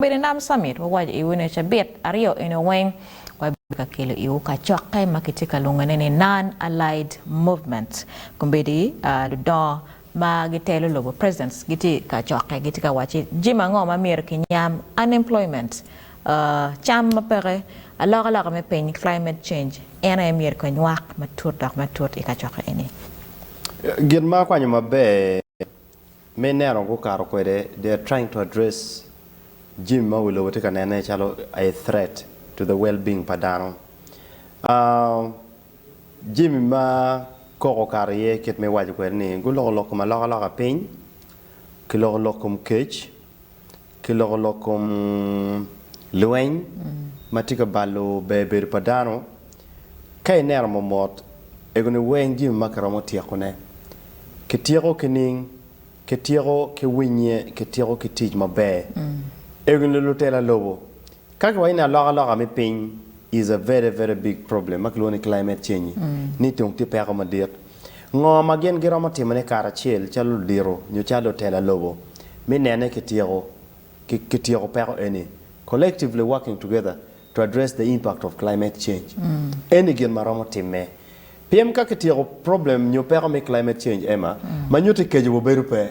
Obedo i Nam Summit, wawaco iwu ni cabit aryo eni weng wabedo ka kelo iwu kacokke ma kitye ka lwongone ni Non-Allied Movement. Kombeddi ludongo ma gitelo lobo, presidents, gitye i kacokke, gitye ka wacci jami ango ma myero kinyam, unemployment, cam ma peke, alokaloka me piny, climate change, en aye myero kinywak matut dok matut i kacokke eni. Gin ma akwanyo maber Me neno gukato kwede, they are trying to address jimi ma wi lobo tye ka nene calo a threat to the well being pa dano. Jimi ma koko okato iye kit ma iwaco kwede ni guloko lok kom alokaloka piny, kiloko lok kom kec, ki lokolok kom lweny ma tye ka balo ber bedo pa dano. Ka ineno momot, egoni weng jami ma kiromo tyekone. Kityeko ki ning, kityeko ki winnye, kityeko ki tic maber. Egoni lutela lobo, Ka kiwaco ni alokaloka me piny is a very very big problem ma kilwongo ni climate change ni tung tye peko madit, ngo ma gin giromo timone karacel calo ludito nyo calo lutela lobo me nene kityeko kityeko peko eni collectively working together to address the impact of climate change eni gin ma romo timme. Pien ka kityeko problem nyo peko me climate change Emma ma nyutte keco wa obedo pe.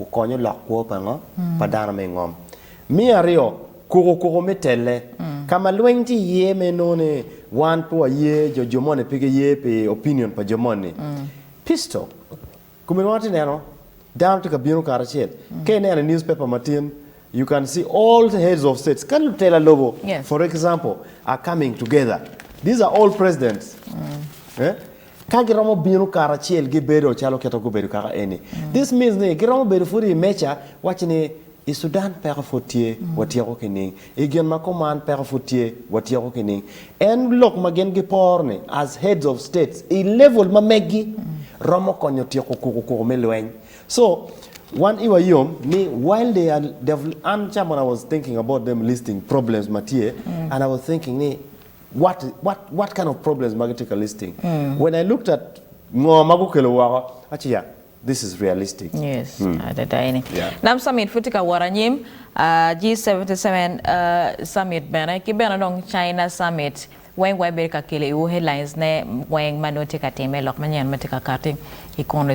okonyo lok kwo pa ngo? Pa dano me ngom. Me aryo, kuku kuku me telle. Ka ma lweny tye iye ma inongo ni wan pe waye jo jo moni pe giye pi opinion pa jo moni. Pistol. Kome inongo atye neno dano tye ka bino karacel. Ka ineno i news paper matin you can see all the heads of states ka lutela lobo for example are coming together. These are all presidents. Ka giromo bino karacel gibedo calo kit ma gubedo kaka eni, this means ni giromo bedo pud i meja wacci ni i Sudan peko pud tye, watyeko kining? I gin ma kuman peko pud tye, watyeko kining? En lok ma gin giporo ni as heads of states i level ma meggi romo konyo tyeko kuku kuku me lweny. So wan iwa yom ni while they are they've an ca when I was thinking about them listing problems ma tye and I was thinking ni What what what kind of problems ma gitye ka listing? When I looked at ngo ma gukelo woko, aci ya, this is realistic. Yes, adada eni. Yeah. Nam Summit pud tye ka wot anyim, ah, G77 ah, Summit bene, ki bene dong China Summit, weng wa ibedo ka kelo iwu headlines ne weng ma nongo tye ka timme, lok manyen ma tye ka kati i kunu.